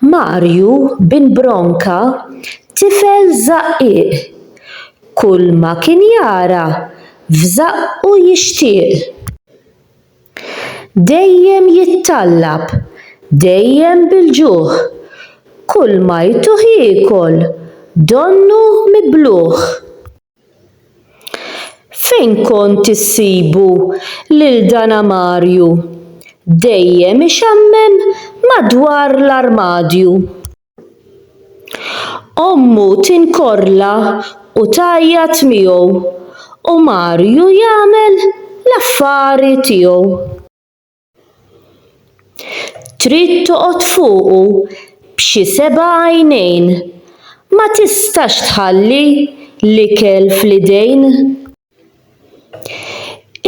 Marju bin Bronka tifel żaqqiq, kulma kien jara f'żaqqu jixtieq. Dejjem jittallab, dejjem bil-ġuħ, kulma jtuh jiekol donnu mibluħ. Fejn kont issibu lil dan amarju dejjem ixammem madwar l-armadju? Ommu tinkorrla u tgħajjat miegħu u Marju jagħmel l-affari tiegħu. Trid toqgħod fuqu b'xi seba' għajnejn, ma tistax tħalli l-ikel fl-idejn.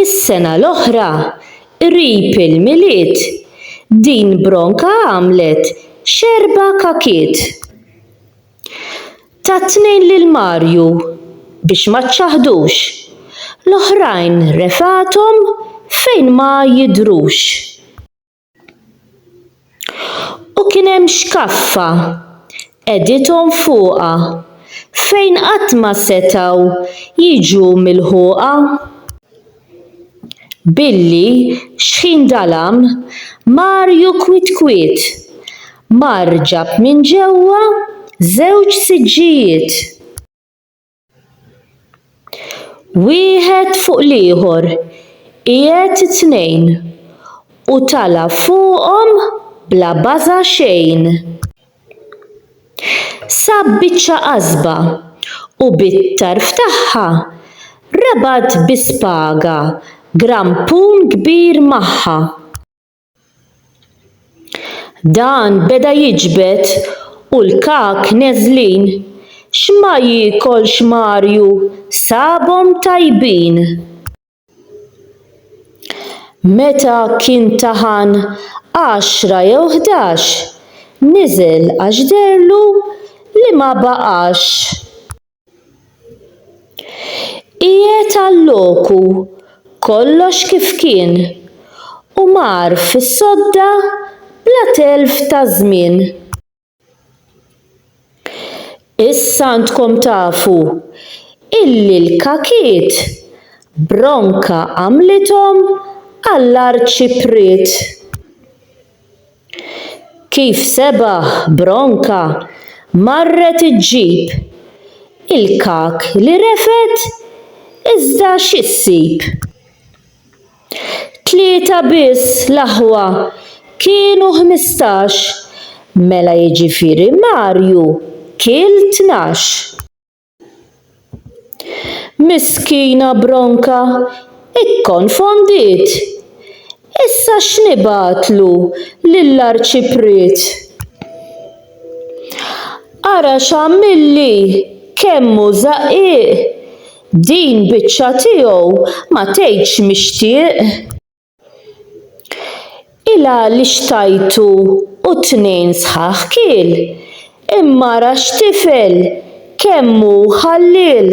Is-sena l-oħra, qrib il-Milied, din Bronka għamlet x'erba' kakiet. Ta' tnejn lil Marju biex ma ċċaħħdux, l-oħrajn refgħathom fejn ma jidhrux. U kien hemm xkaffa qegħdithom fuqha fejn qatt ma setgħu jiġu milħuqa. Billi xħin dalam, Marju kwiet kwiet mar ġab minn ġewwa żewġ siġġijiet. Wieħed fuq l-ieħor qiegħed it-tnejn u tala' fuqhom bla baża' xejn. Sa biċċa qasba u bit-tarf tagħha rabat bi spaga grampun kbir magħha. Dan beda jiġbed u l-kak neżlin x'ma jiekolx Marju sabhom tajbin. Meta kien taħan għaxra jew ħdax, niżel għax deherlu li ma baqax. Qiegħed għalloku, kollox kif kien, u mar fis-sodda bla telf ta' żmien. Issa għandkom tafu illi l-kakiet bronka għamlithom għall-Arċipriet. Kif sebaħ bronka marret iġġib il-kak li refet iżda x'issib? Tlieta biss l-aħwa kienu ħmistax, mela jiġifieri Marju kiel tnax. Miskina Bronka ikkonfondiet. Issa x'nibgħatlu lill-Arċipriet? Ara x'għamilli, kemm hu żaqqiq! Din biċċa tiegħu ma tgħidx mixtieq. Ilha li xtajtu u t-tnejn sħaħ kiel, imma ara x'tifel, kemm hu ħalliel.